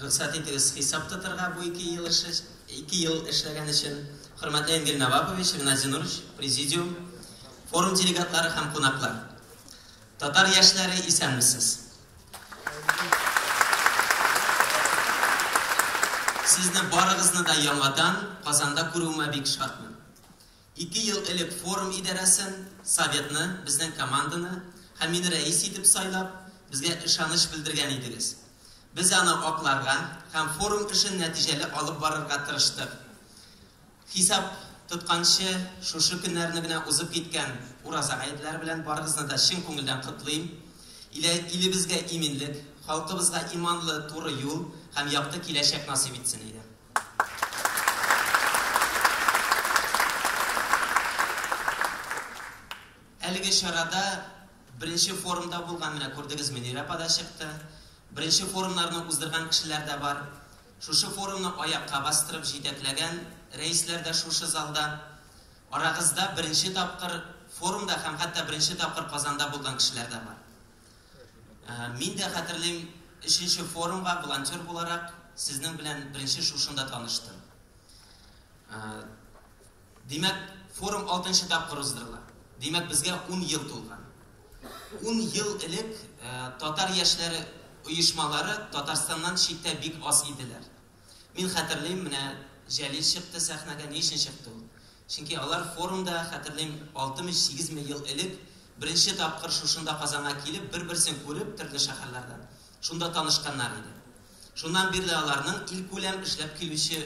Рөхсәт итегез хисап тотырга бу ике ел эше, ике ел эшләгән өчен. Хөрмәтле Энгель Навапович, Геннадий Нурович, президиум, форум делегатлары һәм кунаклар. Татар яшьләре исәнмесез. Сезне барыгызны да яңадан Казанда күрүемә бик шатмын. Ике ел элек форум идарәсен, Советны, безнең команданы һәм мине рәис итеп сайлап, безгә ышаныч белдергән идегез. Без аны акларга һәм форум эшен нәтиҗәле алып барырга тырыштык. Хисап тотканчы, шушы көннәрне генә узып киткән Ураза гаетләре белән барыгызны да чын күңелдән котлыйм. Илә, илебезгә иминлек, халкыбызга иманлы, туры юл һәм якты киләчәк насыйп итсен, әйдә. Әлеге чарада беренче форумда булган, менә күрдегез, Мөнирә апа да чыкты. Беренче форумнарны уздырган кешеләр дә бар. Шушы форумны аякка бастырып җитәкләгән рәисләр дә шушы залда. Арагызда беренче тапкыр форумда һәм хәтта беренче тапкыр Казанда булган кешеләр дә бар. Мин дә хәтерлим, өченче форумга волонтер буларак сезнең белән беренче шушында таныштым. Димәк, форум алтынчы тапкыр уздырыла. Димәк, безгә ун ел тулган. Ун ел элек татар яшьләре оешмалары Татарстаннан читтә бик аз иделәр. Мин хәтерлим, менә Җәлил чыкты сәхнәгә, ни өчен чыкты ул? Чөнки алар форумда, хәтерлим, алтымыш сигез мең ел элек, беренче тапкыр шушында Казанга килеп, бер-берсен күреп, төрле шәһәрләрдән, шунда танышканнар иде. Шуннан бирле аларның илкүләм эшләп килүче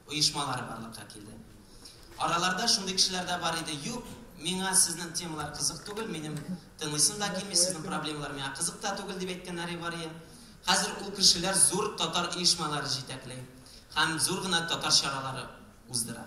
оешмалары барлыкка килде. Араларда шундый кешеләр дә бар иде, Юк, миңа сезнең темалар кызык түгел, минем тыңлыйсым да килми, сезнең проблемалар миңа кызык та түгел, дип әйткәннәре бар иде. Хәзер ул кешеләр зур татар оешмалары җитәкли һәм зур гына татар чаралары уздыра.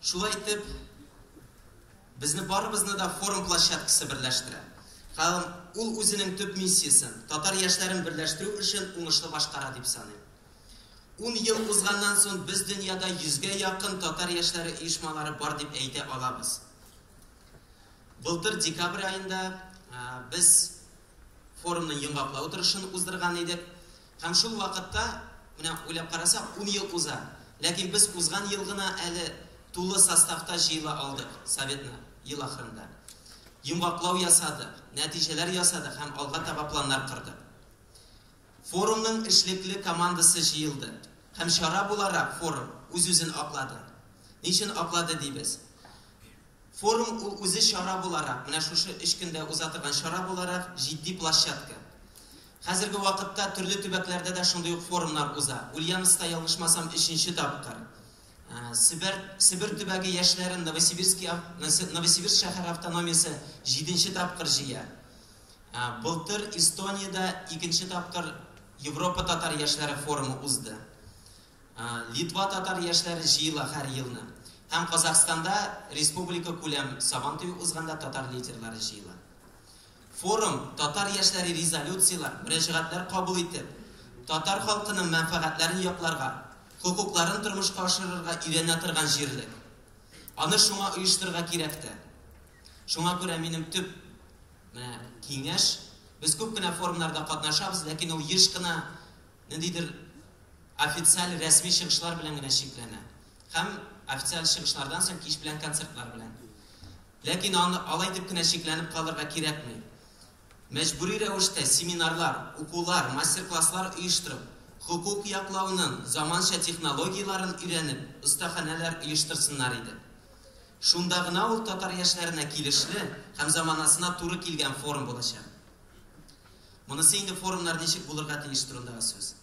Шулай итеп, безне барыбызны да форум площадкасы берләштерә. Һәм ул үзенең төп миссиясен, татар яшьләрен берләштерү эшен уңышлы башкара дип саныйм. Ун ел узганнан соң без дөньяда йөзгә якын татар яшьләре оешмалары бар дип әйтә алабыз. Былтыр декабрь аенда без форумның йомгаклау утырышын уздырган идек. Һәм шул вакытта, менә уйлап карасак, ун ел уза. Ләкин без узган ел гына әле тулы составта җыела алдык Советны, ел ахырында. Йомгаклау ясадык, нәтиҗәләр ясадык һәм алга таба планнар кордык. Форумның эшлекле командасы җыелды. Һәм чара буларак форум үз-үзен аклады. Ни өчен аклады дибез? Форум ул үзе чара буларак, менә шушы өч көндә уза торган чара буларак җитди площадка. Хәзерге вакытта төрле төбәкләрдә дә шундый ук форумнар уза. Ульяновскта, ялгышмасам, өченче тапкыр Себер Себер төбәге яшьләрен Новосибирские Новосибирск шәһәре автономиясе җиденче тапкыр җыя. Былтыр Эстониядә икенче тапкыр Европа татар яшьләре форумы узды. Литва татар яшьләре җыела һәр елны. Һәм Казахстанда республика күләм Сабантуе узганда татар лидерлары җыела. Форум татар яшьләре резолюцияләр, мөрәҗәгатьләр кабул итеп, татар халкының мәнфәгатьләрен якларга, хокукларын тормышка ашырырга өйрәнә торган җирлек. Аны шуңа оештырырга кирәк тә. Шуңа күрә минем төп менә киңәш, без күп кенә форумнарда катнашабыз, ләкин ул еш кына ниндидер официаль, рәсми чыгышлар белән генә чикләнә. Һәм официаль чыгышлардан соң кич белән концертлар белән. Ләкин аны алай дип кенә чикләнеп калырга кирәкми. Мәҗбүри рәвештә семинарлар, укулар, мастер-класслар оештырып, хокук яклауның заманча технологияләрен өйрәнеп, остаханәләр оештырсыннар иде. Шунда гына ул татар яшьләренә килешле һәм заманасына туры килгән форум булачак. Монысы инде форумнар ничек булырга тиеш турындагы сүз.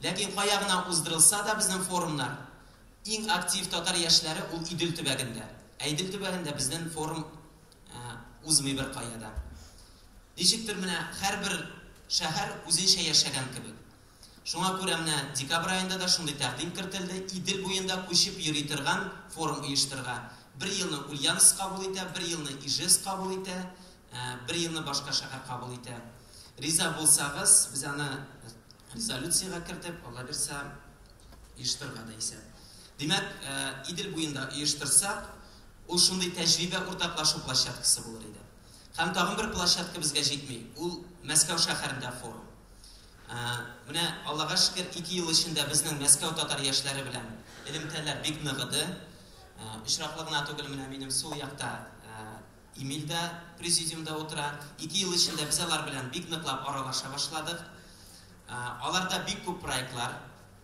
Ләкин кая гына уздырылса да безнең форумнар, Иң актив татар яшьләре ул Идел төбәгендә. Ә Идел төбәгендә безнен форум узмый беркая да. Ничектер менә һәрбер шәһәр үзенчә яшәгән кебек. Шуңа күрә менә декабрь аенда да шундый тәкъдим кертелде, Идел буенда күчеп йөри торган форум оештырырга. Бер елны Ульяновск кабул итә, бер елны Ижевск кабул итә, бер елны башка шәһәр кабул итә. Риза булсагыз, без аны Резолюциягә кертеп, аллабирса, оештырырга да исәп. Димәк, э, Идел буенда оештырсак, ул шундый тәҗрибә уртаклашу площадкасы булыр иде. Һәм тагын бер площадка безгә җитми, ул Мәскәү шәһәрендә форум. Э, менә Аллага шөкер, 2 ел эчендә безнең Мәскәү татар яшьләре белән элемтәләр бик ныгыды. Э, очраклы гына түгел, менә минем сул якта Эмиль дә президиумда утыра. Ике ел эчендә без алар белән бик ныклап аралаша башладык. Аларда бик күп проектлар,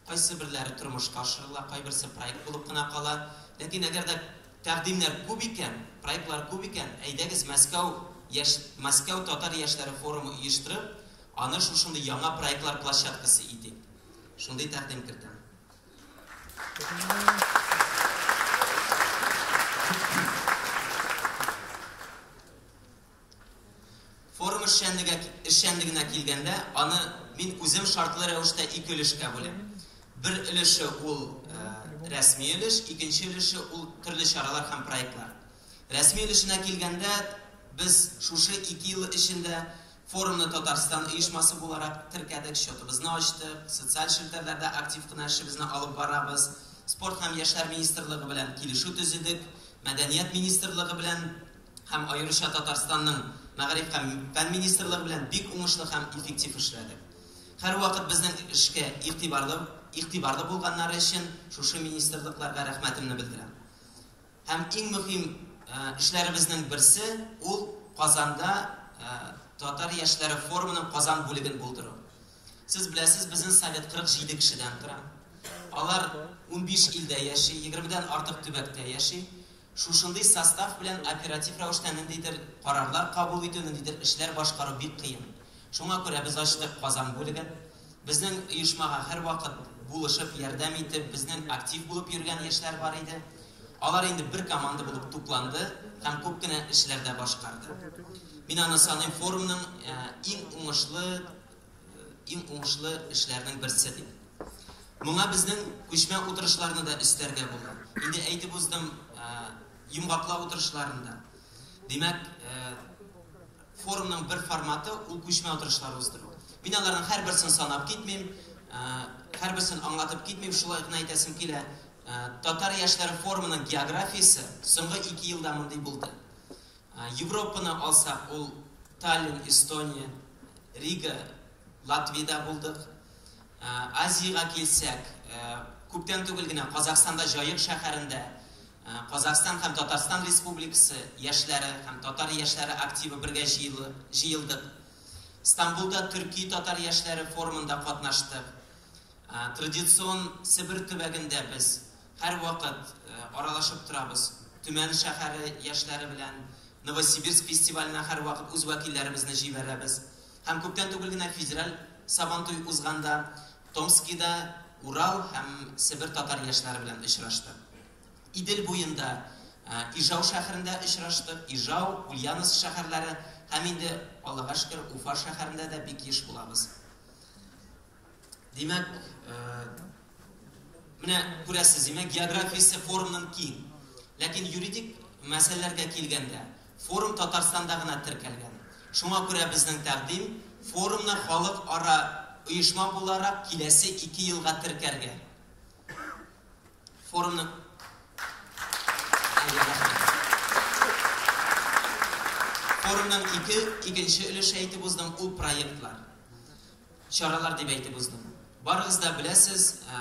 кайсы берләре тормышка ашырыла, кайберсе проект булып кына кала. Ләкин әгәр дә тәкъдимнәр күп икән, проектлар күп икән, әйдәгез Мәскәү яшь Мәскәү татар яшьләре форумы оештырып, аны шушындый яңа проектлар площадкасы итик. Шундый тәкъдим кертәм. Форум эшчәнлеге эшчәнлегенә килгәндә, аны мин үзем шартлы рәвештә ике өлешкә бүләм. Бер өлеше ул э, рәсми өлеш, икенче өлеше ул төрле чаралар һәм проектлар. Рәсми өлешенә килгәндә, без шушы ике ел эчендә Форумны Татарстан оешмасы буларак теркәдек, счетыбызны ачтык, социаль челтәрләрдә актив кына эшебезне алып барабыз. Спорт һәм яшьләр министрлыгы белән килешү төзедек. Мәдәният министрлыгы белән һәм аеруча Татарстанның Мәгариф һәм фән министрлыгы белән бик уңышлы һәм эффектив эшләдек. Һәрвакыт безнең эшкә игътибарлы игътибарлы булганнары өчен шушы министрлыкларга рәхмәтемне белдерәм. Һәм иң мөһим эшләребезнең берсе, ул Казанда татар яшьләре форумының Казан бүлеген булдыру. Сез беләсез, безнең совет 47 кешедән тора. Алар 15 илдә яши, 20 дән артык төбәктә яши. Шушындый состав белән оператив рәвештә ниндидер карарлар кабул итү, ниндидер эшләр башкару бик кыен. Шуңа күрә без ачтык Казан бүлеген. Безнең оешмага һәрвакыт булышып, ярдәм итеп, безнең актив булып йөргән яшьләр бар иде. Алар инде бер команда булып тупланды һәм күп кенә эшләр дә башкарды. Мин аны саныйм форумның иң уңышлы, иң уңышлы эшләрнең берсе дип. Моңа безнең күчмә утырышларны да өстәргә була. Инде әйтеп уздым, йомгаклау утырышларында. Димәк, Форумның бер форматы, ул күчмә утырышлар уздыру. Мин аларның һәрберсен санап китмим, һәрберсен аңлатып китмим, шулай гына әйтәсем килә, татар яшьләре форумының географиясе соңгы ике елда мондый булды. Европаны алсак, ул Таллин, Эстония, Рига, Латвиядә булдык. Азиягә килсәк, күптән түгел генә Казахстанда Җаек шәһәрендә Казахстан һәм Татарстан Республикасы яшьләре һәм татар яшьләре активы бергә җыелдык. Стамбулда төрки-татар яшьләре форумында катнаштык. Традицион Себер төбәгендә без һәрвакыт аралашып торабыз. Төмән шәһәре яшьләре белән Новосибирск фестиваленә һәрвакыт үз вәкилләребезне җибәрәбез. Һәм күптән түгел генә федераль Сабантуй узганда Томскида Урал һәм Себер татар яшьләре белән очраштык. Идел буенда Ижау шәһәрендә очраштык. Ижау, Ульяновск шәһәрләре һәм инде Аллага шөкер, Уфа шәһәрендә дә бик еш булабыз. Димәк, менә күрәсез, димәк, географиясе форумның киң. Ләкин юридик мәсьәләләргә килгәндә, Форум Татарстанда гына теркәлгән. Шуңа күрә безнең тәкъдим, форумны халыкара оешма буларак киләсе ике елга теркәргә. Форумны Форумның ике, икенче өлеше әйтеп уздым, ул проектлар. Чаралар дип әйтеп уздым. Барыгыз да беләсез, ә,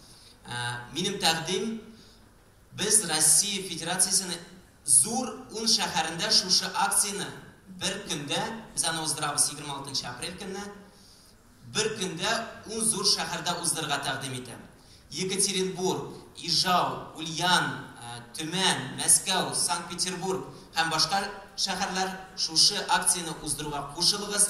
Минем тәкъдим, без Россия Федерациясенең зур ун шәһәрендә шушы акцияне бер көндә, без аны уздырабыз 26 апрель көнне, бер көндә ун зур шәһәрдә уздырырга тәкъдим итәм. Екатеринбург, Ижау, Ульян, Төмән, Мәскәү, Санкт-Петербург һәм башка шәһәрләр шушы акцияне уздыруга кушылыгыз.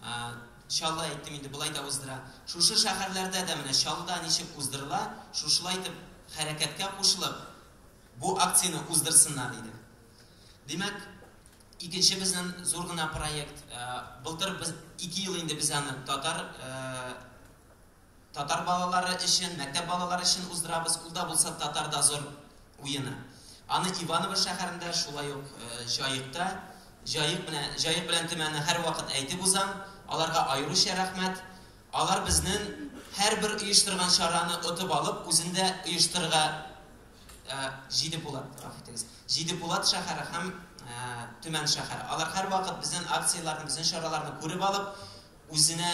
А, Чаллы әйттем инде, болай да уздыра. Шушы шәһәрләрдә дә менә Чаллыда ничек уздырыла, шушылай итеп хәрәкәткә кушылып, бу акцияне уздырсыннар иде. Димәк, икенче безнең зур гына проект, былтыр без ике ел инде без аны татар Татар балалары өчен, мәктәп балалары өчен уздырабыз, ул да булса татар дозор уены. Аны Иваново шәһәрендә, шулай ук Җаекта, Җаек менә, Җаек белән Төмәнне һәрвакыт әйтеп узам, аларга аеруча рәхмәт. Алар безнен һәрбер оештырган чараны отып алып, үзен дә оештырырга Җиде Пулат, гафу итегез, Җиде Пулат шәһәре һәм Төмән шәһәре. Алар һәрвакыт безнен акцияләрне, безнен чараларны күреп алып, үзенә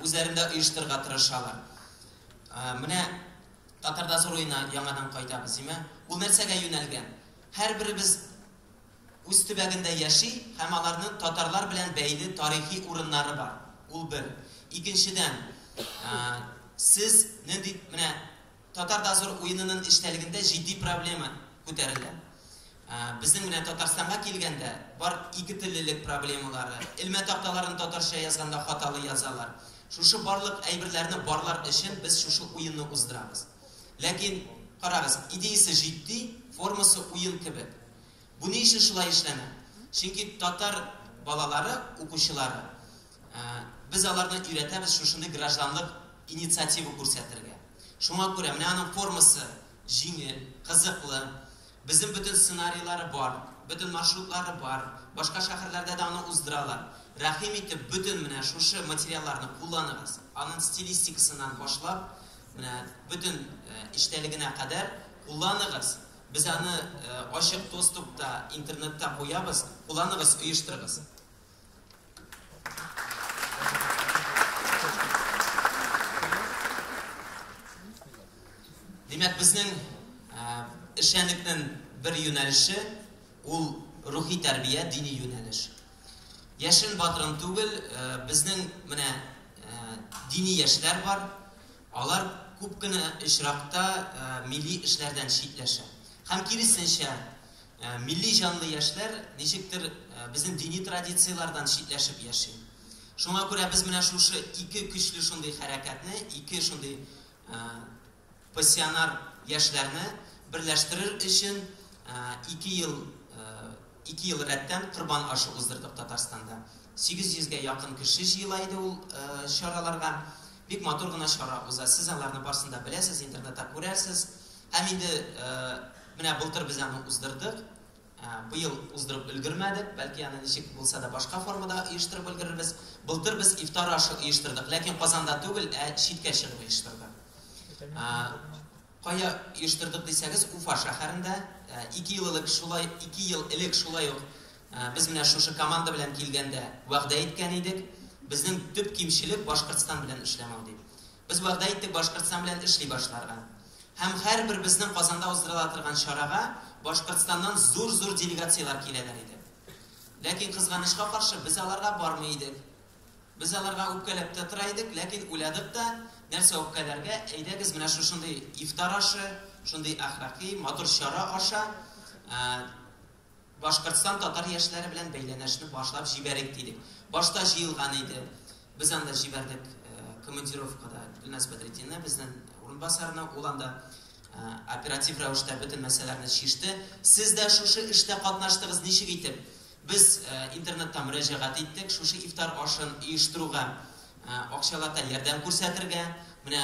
үзләрендә оештырырга тырышалар. Менә Татарда Зуруена яңадан кайтабыз, димә. Ул нәрсәгә юнәлгән? Һәрберебез үз төбәгендә яши һәм аларның татарлар белән бәйле тарихи урыннары бар. Ул бер. Икенчедән, сез нинди менә Татар дозор уенының эчтәлегендә җитди проблема күтәрелә. Безнең менә Татарстанга килгәндә бар икетеллелек проблемалары, элмә такталарын татарча язганда хаталы язалар. Шушы барлык әйберләрне барлар өчен без шушы уенны уздырабыз. Ләкин, карагыз, идеясе җитди, формасы уен кебек. Бу ни өчен шулай эшләнә? Чөнки татар балалары, укучылары Без аларны өйрәтәбез шушындый гражданлык инициатива күрсәтергә. Шуңа күрә менә аның формасы җиңел, кызыклы. Безнең бөтен сценарийлары бар, бөтен маршрутлары бар. Башка шәһәрләрдә дә аны уздыралар. Рәхим итеп, бөтен менә шушы материалларны кулланыгыз. Аның стилистикасыннан башлап, менә бөтен эчтәлегенә кадәр кулланыгыз. Без аны ачык доступта, интернетта куябыз. Кулланыгыз, оештырыгыз. Димәк, безнең эшчәнлекнең бер юнәлеше ул рухи тәрбия, дини юнәлеш. Яшен батырын түгел, безнең менә дини яшьләр бар. Алар күп кенә очракта милли эшләрдән читләшә. Һәм киресенчә, Милли җанлы яшьләр ничектер безнең дини традицияләрдән читләшеп яши. Шуңа күрә без менә шушы ике көчле шундый хәрәкәтне, ике шундый пассионар яшьләрне берләштерер өчен ике ел, ике ел рәттән корбан ашы уздырдык Татарстанда. 800 гә якын кеше җыела иде ул чараларга. Бик матур гына чара уза. Сез аларны барсын да беләсез, интернетта күрәсез. Һәм инде менә былтыр без аны уздырдык. Быел уздырып өлгермәдек, бәлки аны ничек булса да башка формада оештырып өлгерербез. Былтыр без ифтар ашы оештырдык, ләкин Казанда түгел, ә читкә чыгып оештырдык. Кая оештырдык дисәгез, Уфа шәһәрендә. Ике ел элек шулай, ике ел элек шулай ук без менә шушы команда белән килгәндә вәгъдә иткән идек. Безнең төп кимчелек Башкортстан белән эшләмәү дип. Без вәгъдә иттек Башкортстан белән эшли башларга. Һәм һәрбер безнең Казанда уздырыла торган чарага Башкортстаннан зур-зур делегацияләр киләләр иде. Ләкин кызганычка каршы, без аларга бармый идек. Без аларга үпкәләп тә тора идек, ләкин уйладык та, нәрсә үпкәләргә, әйдәгез менә шушындый ифтар ашы, шундый әхлакый, матур чара аша, Башкортстан татар яшьләре белән бәйләнәшне башлап җибәрик дидек. Башта җыелган иде. Без анда җибәрдек командировкада Гөлназ Бәдретдинны, безнен урынбасарны. Ул анда оператив рәвештә бөтен мәсьәләләрне чиште. Сез дә шушы эштә катнаштыгыз, ничек итеп? Без интернетта мөрәҗәгать иттек, шушы ифтар ашын оештыруга акчалата ярдәм күрсәтергә. Менә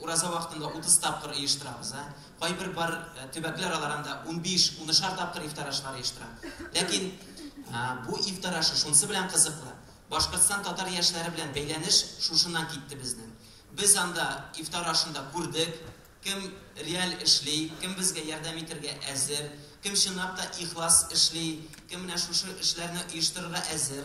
Ураза вакытында 30 тапкыр оештырабыз. Ә? Кайбер бар э, төбәкләр алар анда 15-16 тапкыр ифтар ашлары оештыра. Ләкин ә, бу ифтар ашы шунсы белән кызыклы. Башкортстан татар яшьләре белән бәйләнеш шушыннан китте безнең. Без анда ифтар ашында күрдек, кем реаль эшли, кем безгә ярдәм итәргә әзер, кем чынлап та ихлас эшли, кем менә шушы эшләрне оештырырга әзер.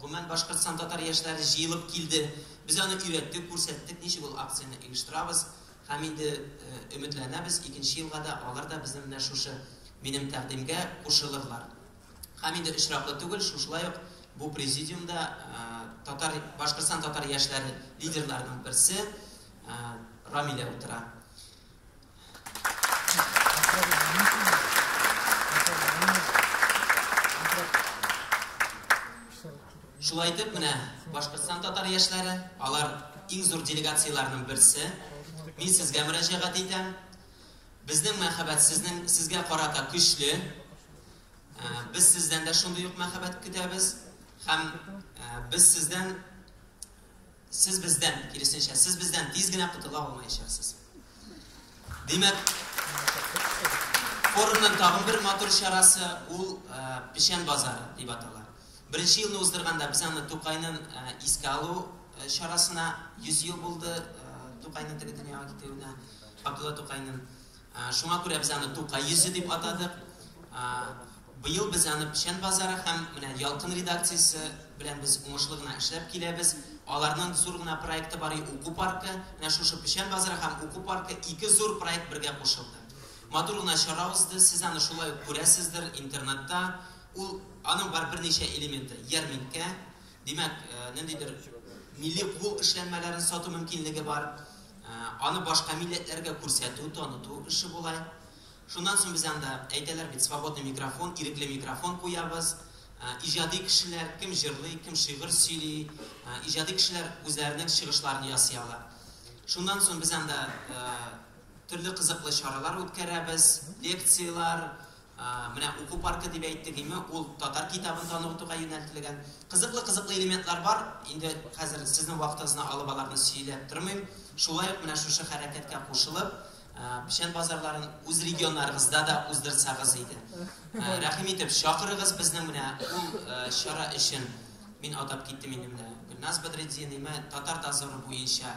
Гомумән, Башкортстан татар яшьләре җыелып килде. Без аны өйрәттек, күрсәттек, ничек ул акцияне оештырабыз. Һәм инде өметләнәбез, икенче елга да алар да безнең менә шушы минем тәкъдимгә кушылырлар. Һәм инде очраклы түгел, шушылай ук бу президиумда татар, Башкортстан татар яшьләре лидерларының берсе Рамилә утыра. Шулай итеп, менә Башкортстан татар яшьләре, алар иң зур делегацияләрнең берсе. Мин сезгә мөрәҗәгать итәм. Безнең мәхәббәт сезнең сезгә карата көчле. Ә, без сездән дә шундый ук мәхәббәт көтәбез һәм ә, без сездән Сез бездән, киресенчә, сез бездән тиз генә котыла алмаячаксыз. Димәк, форумның тагын бер матур чарасы ул э, Печән базары дип атала. Беренче елны уздырганда без аны Тукайның э, искә алу э, чарасына 100 ел булды Тукайның теге дөньяга китүенә, Абдулла Тукайның Шуңа күрә без аны Тукай йөзе дип атадык. Быел без аны Печән базары һәм менә Ялкын редакциясе белән без уңышлы гына эшләп киләбез. Аларның зур гына проекты бар иде уку паркы. Менә шушы Печән базары һәм уку паркы ике зур проект бергә кушылды. Матур гына чара узды. Сез аны шулай ук күрәсездер интернетта. Ул аның бар берничә элементы. Ярминкә, димәк, ниндидер милли кул эшләнмәләрен сату мөмкинлеге бар. Аны башка милләтләргә күрсәтү, таныту эше була. Шуннан соң без анда, әйтәләр бит, свободный микрофон, ирекле микрофон куябыз. Иҗади кешеләр, кем җырлый, кем шигырь сөйли, иҗади кешеләр үзләренең чыгышларын ясый ала. Шуннан соң без анда төрле кызыклы чаралар үткәрәбез, лекцияләр, Менә уку паркы дип әйттек име, ул татар китабын танытуга юнәлтелгән. Кызыклы-кызыклы элементлар бар, инде хәзер сезнең вакытыгызны алып аларны сөйләп тормыйм. Шулай ук менә шушы хәрәкәткә кушылып, печән базарларын үз регионнарыгызда да уздырсагыз иде. Рәхим итеп, чакырыгыз безнең менә ул чара өчен. Мин атап киттем инде менә. Гөлназ Бәдретдин, имә татар дозоры буенча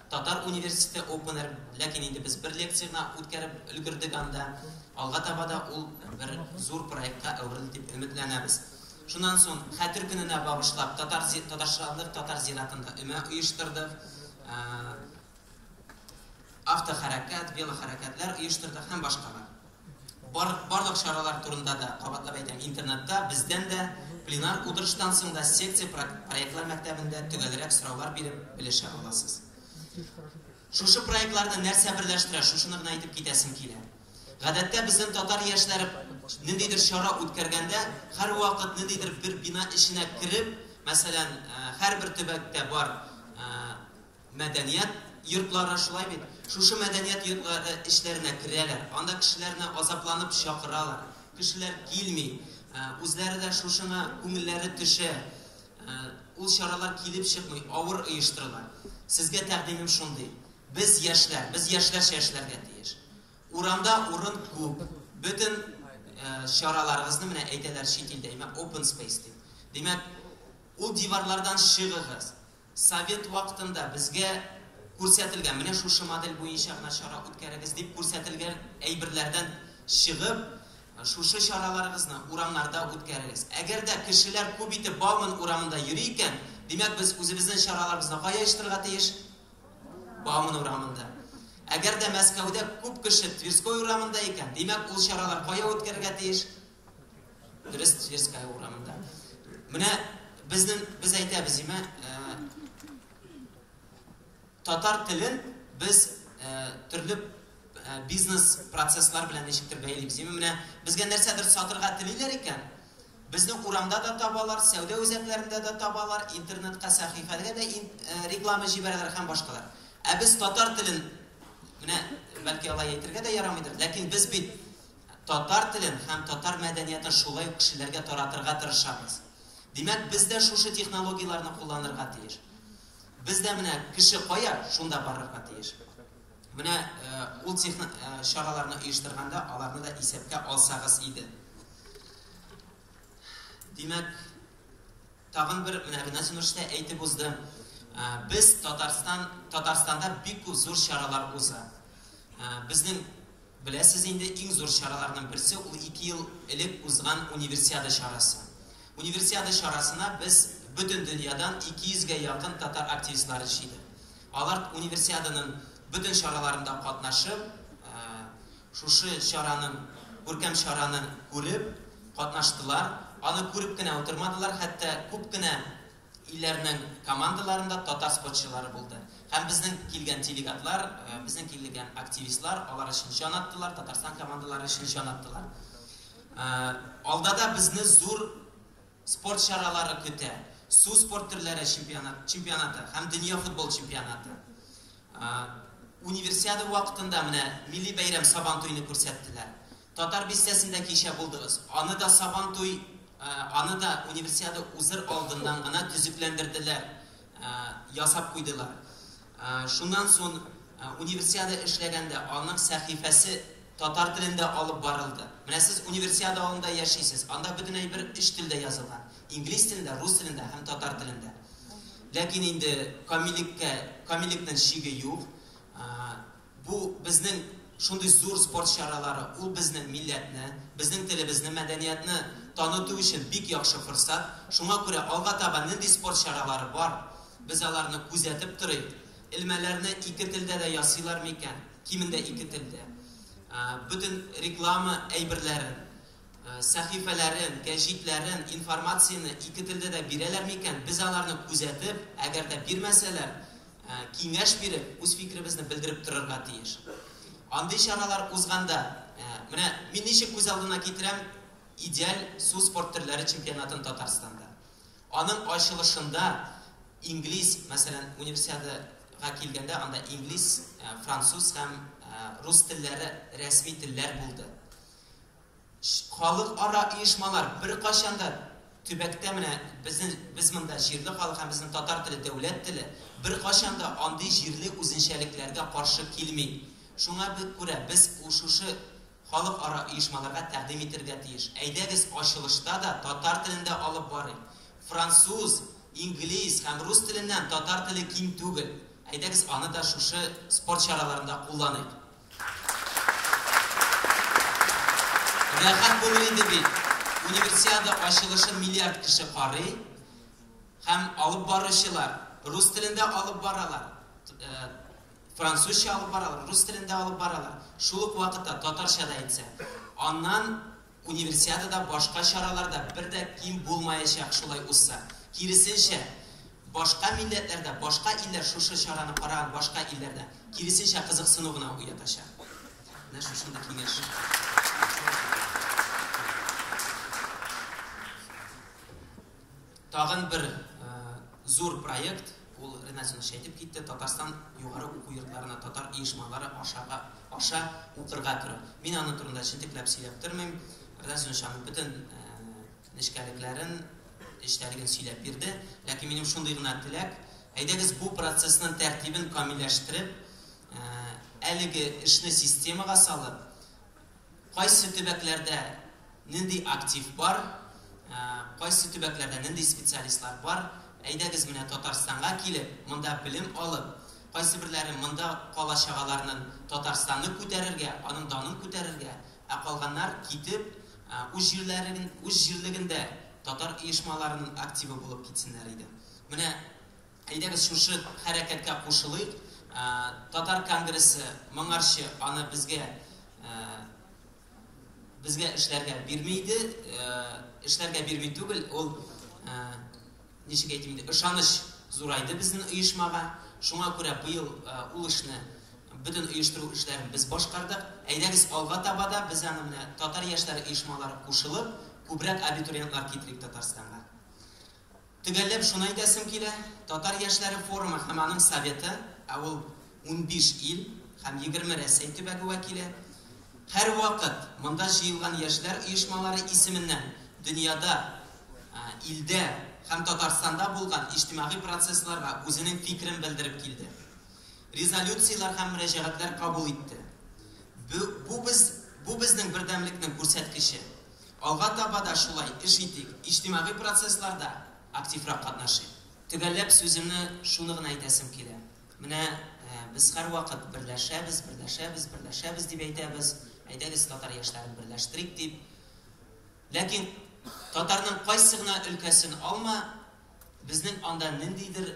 Татар университеты опенер, ләкин инде без бер лекция гына үткәреп өлгердек анда. Алга таба да ул бер зур проектка әверелер дип өметләнәбез. Шуннан соң Хәтер көненә багышлап татар татарчалык татар зиратында өмә оештырдык. Автохәрәкәт, велохәрәкәтләр оештырдык һәм башкалар. Бар, барлык чаралар турында да кабатлап әйтәм, интернетта бездән дә пленар утырыштан соң да секция проектлар мәктәбендә төгәлрәк сораулар биреп белешә аласыз. Шушы проектларны нәрсә берләштерә, шушыны гына әйтеп китәсем килә. Гадәттә безнең татар яшьләре ниндидер чара үткәргәндә һәр вакыт ниндидер бер бина эченә кереп, мәсәлән, һәрбер төбәктә бар Мәдәният йортлары шулай бит. Шушы мәдәният йортлары эчләренә керәләр, анда кешеләрне азапланып чакыралар. Кешеләр килми. Үзләре дә шушыңа күңелләре төшә. Ул чаралар килеп чыкмый, авыр оештырыла. Сезгә тәкъдимем шундый. Без яшьләр, без яшьләрчә эшләргә тиеш. Урамда урын күп. Бөтен чараларыгызны менә әйтәләр чит илдә, имә open space дип. Димәк, ул диварлардан чыгыгыз. Совет вакытында безгә күрсәтелгән, менә шушы модель буенча гына чара үткәрегез, дип күрсәтелгән әйберләрдән чыгып, шушы чараларыгызны урамнарда үткәрегез. Әгәр дә кешеләр күп итеп Бауман урамында йөри икән, димәк, без үзебезнең чараларыбызны кая оештырырга тиеш? Бауман урамында. Әгәр дә Мәскәүдә күп кеше Тверской урамында икән, димәк, ул чаралар кая үткәрергә тиеш? Дөрес, Тверская урамында. Менә безнең без әйтәбез имә э, татар телен без э, төрле э, бизнес процесслар белән ничектер бәйлибез. Имә менә безгә нәрсәдер сатырга телиләр икән, безне урамда да табалар, сәүдә үзәкләрендә дә табалар, интернетка сәхифәгә дә реклама җибәрәләр һәм башкалар. Ә без татар телен менә бәлки алай әйтергә дә ярамыйдыр, ләкин без бит Татар телен һәм татар мәдәниятын шулай ук кешеләргә таратырга тырышабыз. Димәк, без дә шушы технологияләрне кулланырга тиеш. Без дә менә кеше кая, шунда барырга тиеш. Менә ул техно чараларны оештырганда аларны да исәпкә алсагыз иде. Димәк, Тагын бер менә генә җимештә әйтеп узды. Без Татарстан, Татарстанда бик күп зур чаралар уза. Безнең, беләсез инде, иң зур чараларның берсе ул ике ел элек узган Универсиада чарасы. Универсиада чарасына без бөтен дөньядан 200 гә якын татар активистлары җыйдык. Алар Универсиаданың бөтен чараларында катнашып, Шушы чараның, күркәм чараны күреп катнаштылар, аны күреп кенә утырмадылар, хәтта күп кенә илләрнең командаларында татар спортчылары булды. Һәм безнең килгән делегатлар, безнең килгән активистлар алар өчен җан аттылар, Татарстан командалары өчен җан аттылар. Алда да безне зур Спорт чаралары көтә, су спорт төрләре чемпионаты һәм дөнья футбол чемпионаты. Универсиада вакытында менә милли бәйрәм Сабантуйны күрсәттеләр. Татар бистәсендә кичә булдыгыз. Аны да Сабантуй, аны да Универсиада узыр алдыннан гына төзекләндерделәр, ясап куйдылар. Шуннан сон Универсиада эшләгәндә аның сәхифәсе татар телендә алып барылды. Менә сез Универсиада авылында яшисез, анда бөтен әйбер өч телдә язылган, инглиз телендә, рус телендә һәм татар телендә. Ләкин инде камиллеккә, камиллекнен чиге юк. Бу, безнең шундый зур спорт чаралары, ул безнең милләтне, безнең телебезне, мәдәниятне таныту өчен бик яхшы форсат. Шуңа күрә алга таба нинди спорт чаралары бар, без аларны күзәтеп торыйк. Элмәләрне ике телдә дә ясыйлар микән? Кимендә ике телдә. Бөтен реклама әйберләрен, сәхифәләрен, гәҗитләрен, информацияне ике телдә дә бирәләр микән? Без аларны күзәтеп, әгәр дә бирмәсәләр, киңәш биреп, үз фикеребезне белдереп торырга тиеш. Андый чаралар узганда, менә мин ничек күз алдына китерәм, идеаль су спорт төрләре чемпионатын Татарстанда. Аның ачылышында инглиз, мәсәлән, универсиада га килгәндә анда инглиз, француз һәм рус телләре рәсми телләр булды. Халыкара оешмалар беркайчан да төбәктә менә безнең, без монда җирле халык һәм безнең татар теле дәүләт теле, беркайчан да андый җирле үзенчәлекләргә каршы килми. Шуңа күрә без ул шушы халыкара оешмаларга тәкъдим итергә тиеш. Әйдәгез, ачылышта да татар телендә алып барыйк. Француз, инглиз һәм рус теленнән татар теле ким түгел. Әйдәгез, аны да шушы спорт чараларында кулланыйк. Рәхәт булыр иде бит. Универсиада ачылышын миллиард кеше карый һәм алып баручылар рус телендә алып баралар, французча алып баралар, рус телендә алып баралар, шул ук вакытта татарча да әйтсә. Аннан Универсиадада башка чаралар да бер дә ким булмаячак шулай узса. Киресенчә, башка милләтләрдә, башка илләр шушы чараны караган башка илләрдә, киресенчә, кызыксыну гына уятачак. Менә шушындый киңәш. Тагын бер зур проект, ул Ренат Зинович әйтеп китте, Татарстан югары уку йортларына татар оешмалары ашага, аша укырга керү. Мин аны турында җентекләп сөйләп тормыйм. Ренат Зинович аның бөтен нечкәлекләрен, эчтәлеген сөйләп бирде. Ләкин минем шундый гына теләк, әйдәгез бу процессның тәртибен камилләштереп, әлеге эшне системага салып, Кайсы төбәкләрдә нинди актив бар, кайсы төбәкләрдә нинди специалистлар бар, әйдәгез менә Татарстанга килеп, монда белем алып, кайсыберләре монда кала чагаларнын Татарстанны күтәрергә, аның данын күтәрергә, ә калганнар китеп, үз җирләрен, үз җирлегендә татар оешмаларынын активы булып китсеннәр иде. Менә Әйдәгез шушы хәрәкәткә кушылыйк. Татар конгрессы моңарчы аны безгә безгә эшләргә бирми иде. Эшләргә бирми түгел, ул ничек әйтим инде, ышаныч зурайды безнең оешмага. Шуңа күрә быел ул эшне бөтен оештыру эшләрен без башкардык. Әйдәгез алга таба да без аны менә татар яшьләре оешмалары кушылып, күбрәк абитуриентлар китерик Татарстанга. Төгәлләп шуны әйтәсем килә, Татар яшьләре форумы һәм аның Советы, ә ул унбиш ил һәм егерме Рәсәй төбәге вәкиле, һәрвакыт монда җыелган яшьләр оешмалары исеменнән дөньяда, илдә һәм Татарстанда булган иҗтимагый процессларга үзенең фикерен белдереп килде. Резолюцияләр һәм мөрәҗәгатьләр кабул итте. Бу, бу без, бу безнең бердәмлекнең күрсәткече. Алга таба да шулай эш итик, иҗтимагый процессларда активрак катнашыйк. Төгәлләп сүземне шуны гына әйтәсем килә, менә без һәрвакыт берләшәбез, берләшәбез, берләшәбез дип әйтәбез, әйдәгез татар яшьләрен берләштерик дип. Ләкин татарның кайсы гына өлкәсен алма, безнең анда ниндидер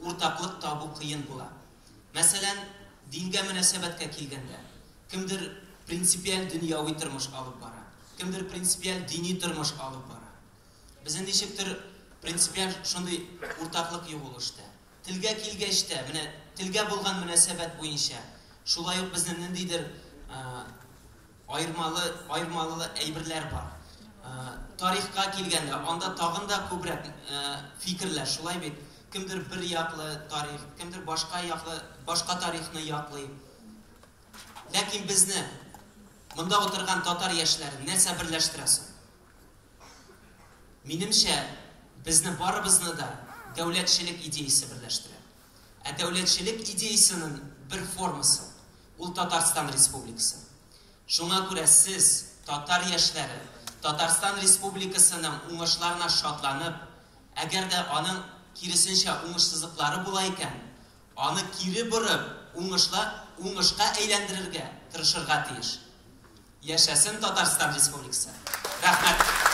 Уртаклык табу кыен була. Мәсәлән, дингә мөнәсәбәткә килгәндә, кемдер принципиаль дөньяви тормыш алып бара, кемдер принципиаль дини тормыш алып бара. Безне ничектер принципиаль шундый уртаклык юк ул эштә. Телгә килгәч тә, менә телгә булган мөнәсәбәт буенча, шулай ук безне ниндидер Аермалы, аермалы әйберләр бар. Тарихка килгәндә, анда тагын да күбрәк фикерләр, шулай бит? Кемдер бер яклы тарих, кемдер башка яклы, башка тарихны яклый. Ләкин безне, монда утырган татар яшьләрен нәрсә берләштерә соң? Минемчә, безне барыбызны да дәүләтчелек идеясе берләштерә. Ә дәүләтчелек идеясенең бер формасы, ул Татарстан Республикасы. Шуңа күрә сез, татар яшьләре, Татарстан Республикасының уңышларына шатланып, әгәр дә аның, киресенчә, уңышсызлыклары була икән, аны кире борып, уңышка әйләндерергә тырышырга тиеш. Яшәсен Татарстан Республикасы! Рәхмәт!